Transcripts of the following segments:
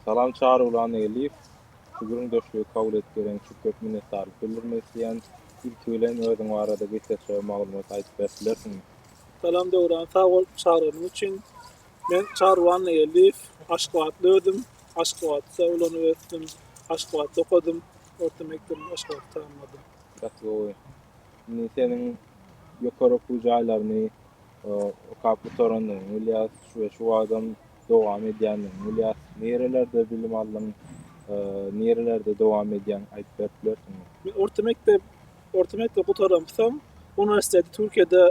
Salam Çarygulan Eliýew. Şu gürrüňdeşligi kabul edip bereňiz üçin köp minnetdarlyk bildirmek isleýän. Ilki bilen özüň barada gysgaça maglumat aýdyp berip bilersiňmi? Salam Döwran sag bol çagyranyň üçin. Men Çarygulan Eliýew. Aşgabatly özüm. Aşgabatda ulanyp ösdüm. Aşgabatda okadym. Orta mekdebimi Aşgabatda tamamladym. Gaty gowy. Indi seniň ýokary okuw jaýlaryny okap gutaranyňy bilýäs we şu wagtam dowam edýändigini bilýäs. Nirelerde bilim aldyň, nirelerde dowam edýäň aýdyp berip bilersiňmi? Men orta mekdep orta mekdebi gutaramsoň uniwersiteti Türkiýede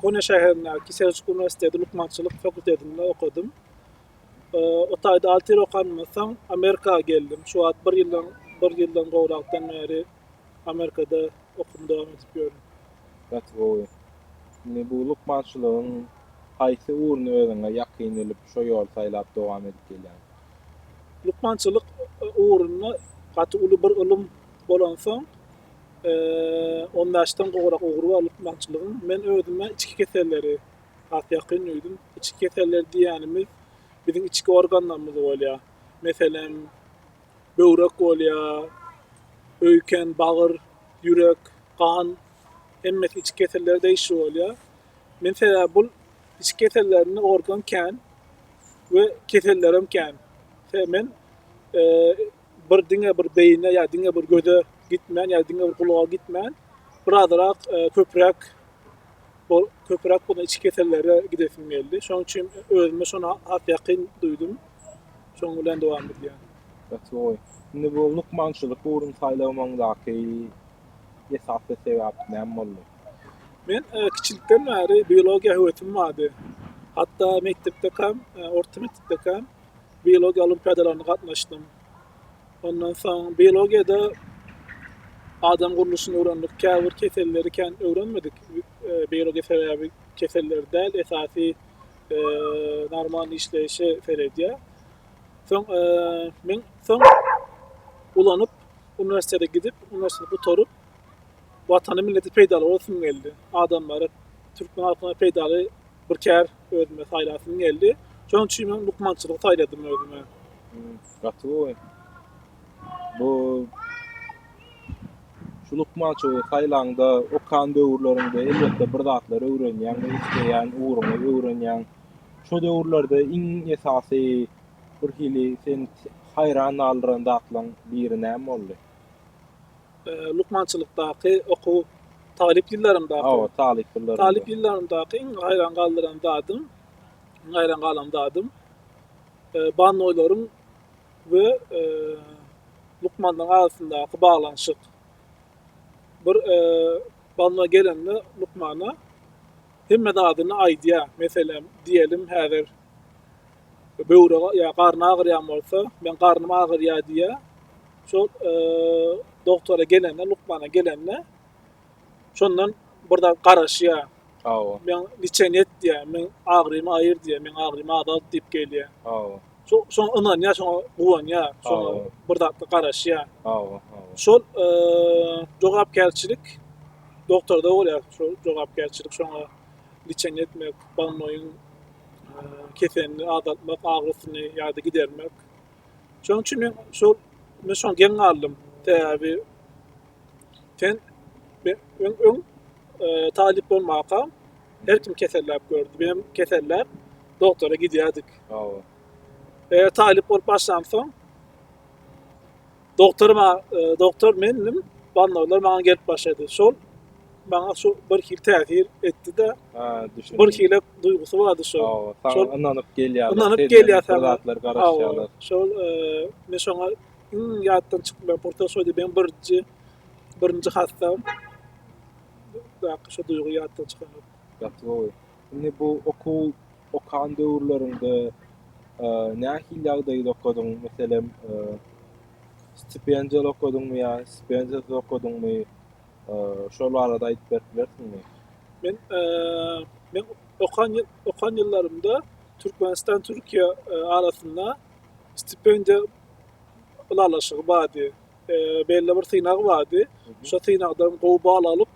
Konya şäherindäki Seljuk uniwersiteti lukmançylyk fakultetinde okadym. O taýda alty ýyl okanymdan soň Amerika geldim. Şu wagt bir ýyldan bir ýyldan gowrakdan bäri Amerikada okumy dowam edip ýörün. Gaty gowy. Indi bu lukmançylygyň haýsy ugruny özüňe ýakyn bilip, şo ýoly saýlap dowam edip gelýäň? Lukmançylyk ugrunda gaty uly bir ylym bolansoň, on bäşden gowrak ugry bar lukmançylygyň. Men özüme içki keselleri has ýakyn duýdum. Içki keselleri diýýänimiz biziň içki organlarymyz bolýar. Meselem, böwrek bolýar, öýken, bagyr, ýürek, gan, hemmesi içki keseller degişli bolýar. Men sebäbi bul içki kesellerinde organ kän we kesellerem kän. Sebäbi men bir diňe bir beýine ýa diňe bir göze gitmän ýa diňe bir gulaga gitmän bir azyrak köpräk bol köpräk bolan içki kesellere gidesim geldi. Şonuň üçin özümi şona has ýakyn duýdum. Şoň bilen dowam edýär. Gaty gowy. Indi bu lukmançylyk ugrun saýlamaňdaky esasy sebäp näme boldy? Men kiçilikden bäri biologiýa höwesim bardy. Hatda mekdepdekam, orta mekdepdekam biologiýa olimpiadalaryna gatnaşdym. Ondan soň biologiýada adam gurluşyny öwrendik. Käbir keselleri kän öwrenmedik. Biologiýa sebäbi keselleri däl, esasy normal işleýşe seredýär. Soň men soň ulanyp uniwersitete gidip, uniwersiteti gutaryp watany milleti peýdaly bolsun geldi. Adamlara türkmen halkyna peýdaly bir kär özüme saýlasym geldi. Şonuň üçin men lukmançylygy saýladym özüme. Gaty gowy. Bu şu lukmançylygy saýlaňda okan döwürleriňde elbetde bir zatlar öwrenýäň we isleýän ugruňy öwrenýäň. Şo döwürlerde iň esasy bir hili seni haýran galdyran zatlaryň biri näme boldy? Lukmançylykdaky okuw talyp ýyllarymdaky. Hawa, talyp ýyllarynda. Talyp ýyllarymdaky iň haýran galdyran zadym, iň haýran galan zadym, bannoýlaryň we lukmanyň arasyndaky baglanyşyk. Bir banda gelende lukmana hemme zadyny aýdýar. Meselem, diýelim, häzir böwre ýa garny agyrýan bolsa, men garnym agyrýar diýýär. Şol doktora gelende, lukmana gelende, Şondan bir zat garaşýar. Hawa. Men niçen et diýär, men agyrymy aýyr diýär, men agyrymy azalt diýip gelýär. Hawa. Şo şoňa ynanýar, şoňa guwanýar, şoňa bir zatda garaşýar. Hawa, hawa. Şol jogapkärçilik doktorda bolýar, şol jogapkärçilik şoňa niçen etmek, balmoýyň keselini azaltmak, agyrysyny ýa-da gidermek. Şonuň üçin men şol men şoňa geň galdym. Sebäbi Sen men öň öň e, talyp bolmaka her kim keselläp gördü. Benim keselläp doktora gidýärdik. Hawa. E, talyp bolup başlansoň doktor ma e, doktor mendim bannawlar maňa gelip başlady. Şol maňa şu bir hil täsir etdi-de, Ha, düşündim. bir hile duýgusy bardy şol. Hawa, sana Şol- ynanyp gelýärler. Ynanyp senden gelýär bir sana. zatlar Hawa, garaşýarlar. şol e, men şoňa Iň ýatdan çykmaýan pursat şoýdy. Meň birinji birinji hassam. Baky şu duýgy ýatdan çykanok. Gaty gowy. Indi bu okuw okan döwürleriňde nähili ýagdaýda okadyň? Meselem, stipendiýaly okadyňmy ýa stipendiýasyz okadyňmy? Şol barada aýdyp berip bilersiňmi? Men men okan okan ýyllarymda Türkmenistan Türkiýe arasynda stipendiýa ylalaşygy bardy. E, belli bir synag bardy. Şo synagdan gowy bal alyp,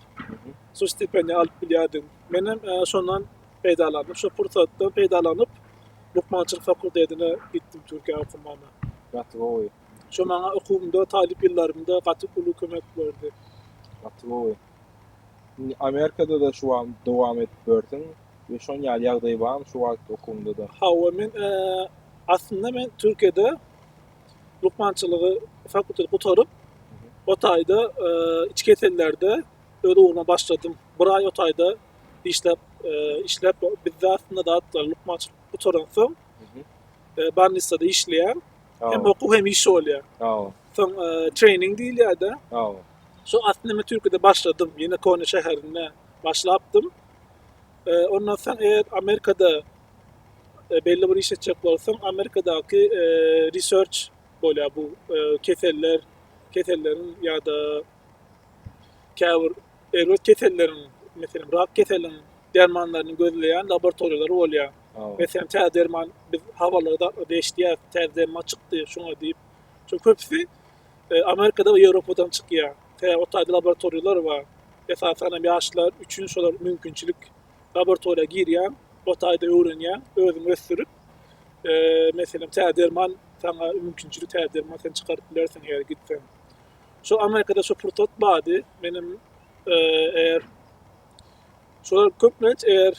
şu stipendiýa alyp bilýärdiň. Men hem e, şondan peýdalanyp, şo pursatdan peýdalanyp, lukmançylyk fakultetine gitdim Türkiýä okumana. Gaty gowy. Şo maňa okuwymda, talyp ýyllarymda gaty uly kömek berdi. Gaty gowy. Indi Amerikada-da şu an dowam edip bilersiň. we şon ýaly ýagdaý barmy şu wagt okuwynda-da? Hawa men aslynda men Türkiýede lukmançylygy fakulteti gutaryp o taýda içki kesellerde öz ugruma başladym. Bir aý o taýda işläp işläp bizde aslynda zat lukmançylyk gutaran soň barnisada işleýän hem okuw hem iş bolýa. Hawa. Soň trening diýilýä-de. Hawa. Şo aslynda men Türkiýede başladym. Ýene Konya şäherinde başlapdym. Ondan soň eger Amerikada belli bir iş etjek bolsaň, Amerikadaky research bolýar bu keseller, keselleriň ýa-da käbir erbet keselleriň, meselem, rak keseliň dermanlaryny gözleýän laboratoriýalar bolýar. Meselem, tä derman biz habarlarda eşidýäris, tä derman çykdy şuňa diýip. Çünki köpüsi Amerikada we Ýewropadan çykýar. Tä ot taýda laboratoriýalar bar. Esasan hem ýaşlar üçin şolar mümkinçilik. Laboratoriýa girýäň, ot taýda öwrenýäň, özüň ösdürip, meselem, tä derman saňa mümkinçilik, tä derman sen çykaryp bilersiň eger gitseň. Şo Amerikada şo pursat bardy. Menem eger şolar köplenç eger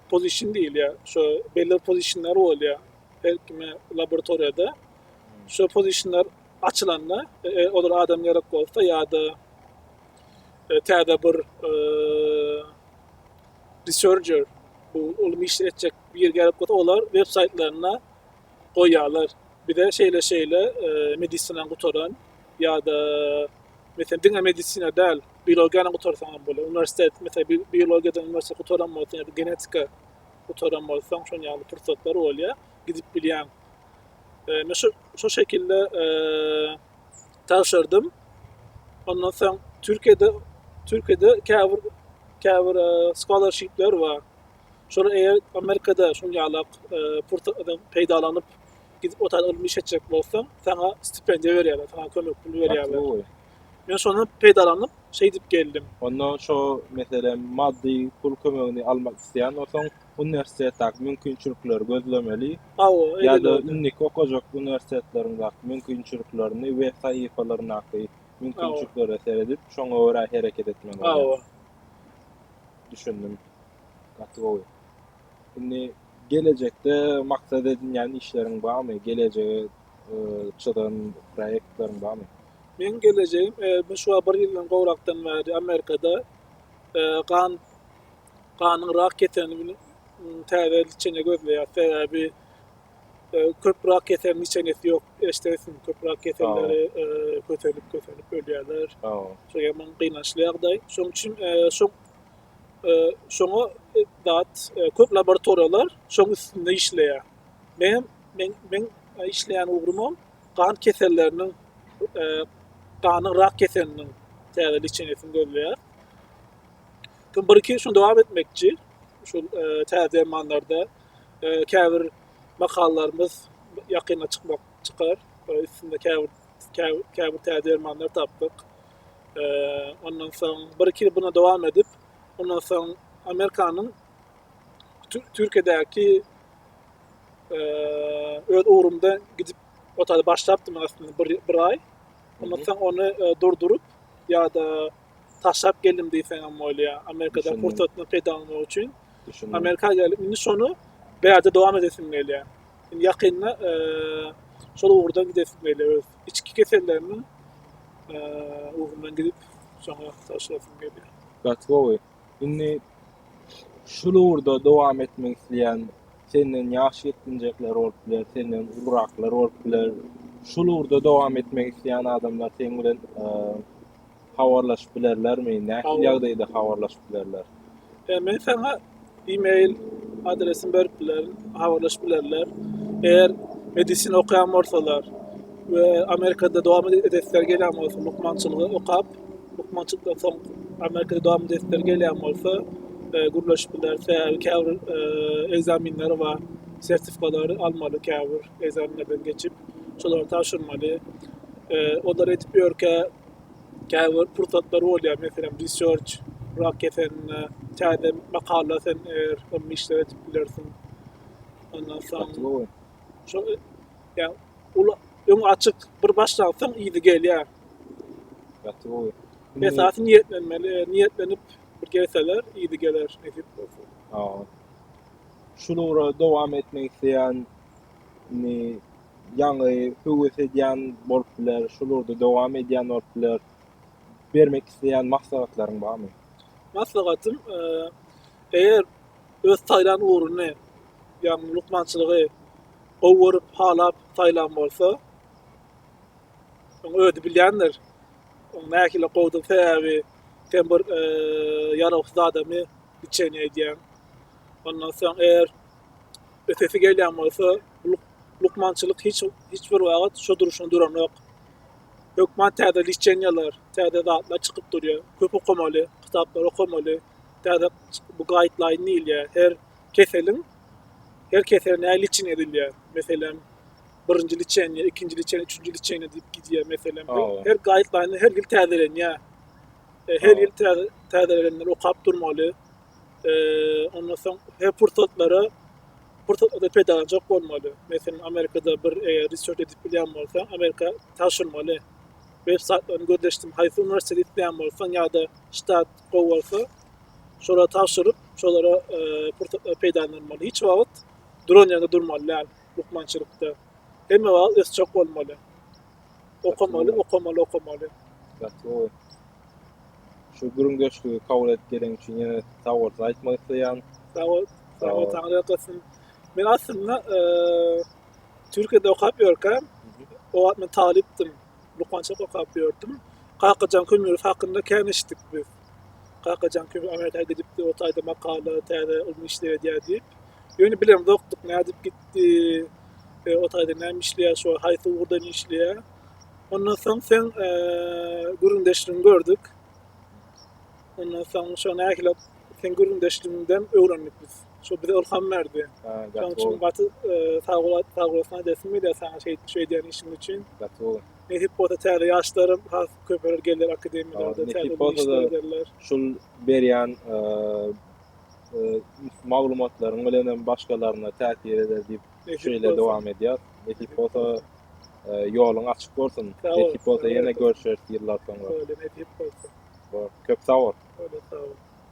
pozişin diýilýär. Şo belli pozişinler bolýar. Her kime laboratoriýada şo pozişinler açylanda olara adam gerek bolsa ýa-da täze bir researcher bu ylmy iş etjek bir gerek bolsa olar web saýtlaryna goýýarlar. Bize şeýle şeýle medisina gutaran ýa-da mesela diňe medisina däl, biologiýany gutarsaň hem bolar. Uniwersitet mesela biologiýadan uniwersitet gutaran bolsa ýa-da genetika gutaran bolsaň şonuň ýaly pursatlar bolýar, gidip bilýäň. Men şu şu şekilde tabşyrdym. Ondan soň Türkiýede Türkiýede käbir käbir scholarshipler bar. Şol eger Amerikada şol ýalak pursatdan peýdalanyp gidip otaryp ylmy iş etjek bolsaň, sana stipendiýa berýärler, sana kömek pul berýärler. Men şondan peýdalanyp, şeýdip geldim. Onda şo meselem maddy pul kömegini almak isleýän bolsaň, uniwersitetdäki mümkinçilikleri gözlemeli ýa-da indiki okajak uniwersitetleriňdäki mümkinçiliklerini we sahypalaryndaky mümkinçiliklere seredip, şoňa görä hereket etmeli bolýar. Düşündim. Gaty gowy. Indi gelejekde maksat edinýän işleriň barmy? Gelejege çyzan proýektleriň barmy? Meň gelejegim, bu şu bir ýyldan gowrakdan bäri Amerikada gan Ganyň rak keselini täze içene gözleýär. Sebäbi köp rak keselini içenesi ýok. Eşdersiň köp rak keselleri kötelip kötelip ölýärler. Şu ýaman gynançly ýagdaý. Şoň üçin şu şoňa dat köp laboratoriýalar şoň üstünde işleýär. Men men men işleýän ugrumam gan keselleriniň ganyň rak keseliniň täze içenesini gözleýär. Son bir-iki gün şuny dowam etmekçi. Şu e, täze dermanlarda e, käbir makallalarymyz ýakynda çykmak çykar. E, üstünde käbir käbir, käbir täze dermanlar tapdyk. E, ondan soň bir-iki ýyl buna dowam edip, ondan soň Amerikanyň Türkiýedäki e, öz ugrumda gidip otady başlapdym aslynda bir, bir aý. Ondan soň ony e, durduryp ýa-da taşlap geldim diýseňem bolýar. Amerikadan pursatdan peýdalanmak üçin Amerika gelip indi şony bärde dowam edesim gelýär. Indi ýakynda e, şol ugurda gidesim gelýär öz içki kesellerimiň e, ugrundan gidip şoňa taşlasym gelýär. Gatwowy. Indi şul ugurda dowam etmek isleýän senden ýaş ýetginjekler bolup biler, senden uluraklar bolup biler. Şul ugurda dowam etmek isleýän adamlar seň bilen e, Habarlaşyp bilerlermi? Nähili ýagdaýda habarlaşyp bilerler? E, men saňa e-mail adresimi berip bilerin, habarlaşyp bilerler. Eger medisina okaýan bolsalar we Amerikada dowam edesleri gelýän bolsa, lukmançylygy okap, lukmançylykdan soň Amerikada dowam edesleri gelýän bolsa, e, gürleşip biler. Sebäbi käbir e, ekzaminleri bar, sertifikalary almaly käbir ekzaminlerden geçip, şolary tabşyrmaly. E, olary edip ýörkä, Käbir pursatlar bolýar, meselem, research, rak keselinde täze makala sen eger ylmy işler edip bilersiň. Ondan soň şo ýa ol öň açyk bir başlansaň ýygy gelýär. Gaty gowy. Esasy niýetlenmeli, niýetlenip bir gelseler ýygy geler nesip bolsa. Şu ugra dowam etmek isleýän Indi ýaňy höwes edýän bolup biler, şol ugurda dowam edýän bolup biler. Bermek isleýän maslahatlaryň barmy? Maslahatym, eger öz saýlan ugruny, ýagny lukmançylygy gowy görüp, halap saýlan bolsa, onuň özi bilýändir. Onuň nähili gowudygy sebäbi sen bir ýarawsyz adamy liçeniýe edýäň. Ondan soň eger Ötesi gelýän bolsa, bu lukmançylyk hiç hiç bir wagt şu durşuna duranok. Hökman täze liçeniýalar, täze zatlar çykyp durýar. Köp okamaly, kitaplar okamaly. Täze bu gaýtlaýyn diýilýär. Her keseliň her kesel näle liçeniýa edilýär. Meselem, birinji liçeniýa, ikinji liçeniýa, üçünji liçeniýa diýip gidýär. Meselem, her gaýtlaýyn her ýyl täzelenýär. E, her ýyl täze täzelenenleri okap durmaly. Eee, ondan soň her pursatlary, pursatlary peýdalanjak bolmaly. Meselem, Amerikada bir eger research edip bilýän bolsaň, Amerika taşyrmaly. Web saýtlaryny gözleşdim, haýsy uniwersiteti isleýän bolsaň ýa-da ştat gowy bolsa, şolara tabşyryp, şolara eee, pursatlary peýdalanylmaly. Hiç wagt duran ýerde durmaly däl lukmançylykda. Hemme wagt ösjek bolmaly. Okamaly, okamaly, okamaly. Gatlygy. Şu gürüngeşligi kabul edip gelen üçin ýene sag bolsun aýtmak isleýän. Sag bol. Sag bol. Taňry ýalkasyn. Men aslynda eee Türkiýede okap ýörkäm, o wagt men talypdym. Lukmançylyk okap ýördüm. Kakajan Kömerow hakynda kän eşitdik biz. Kakajan köp aňa täze gidipdi, o taýda makala, täze ylmy işler edýär diýip. Ýöne bilemzokdyk, nädip gitdi, e, o taýda näme işleýär, şu haýsy ugurdan işleýär. Ondan soň sen e, gürrüňdeşligini gördük. Ondan soň şo nähili sen gürrüňdeşligiňden öwrendik biz. Şo bize ylham berdi. Şonuň üçin gaty e, sag bol, sag bolasyn diýesim gelýär sana şeýdip şeýdýän işiň üçin. Gaty Nesip bolsa täze ýaşlaram has köpeler gelýär akademiýalarda täze işler ederler. Şul berýän maglumatlaryň bilen hem başgalaryna täsir eder diýip şeýle dowam edýär. Nesip bolsa ýoluň açyk bolsun. Nesip bolsa ýene görüşeris ýyllar soňra. Köp sag bol. Köp sag bol.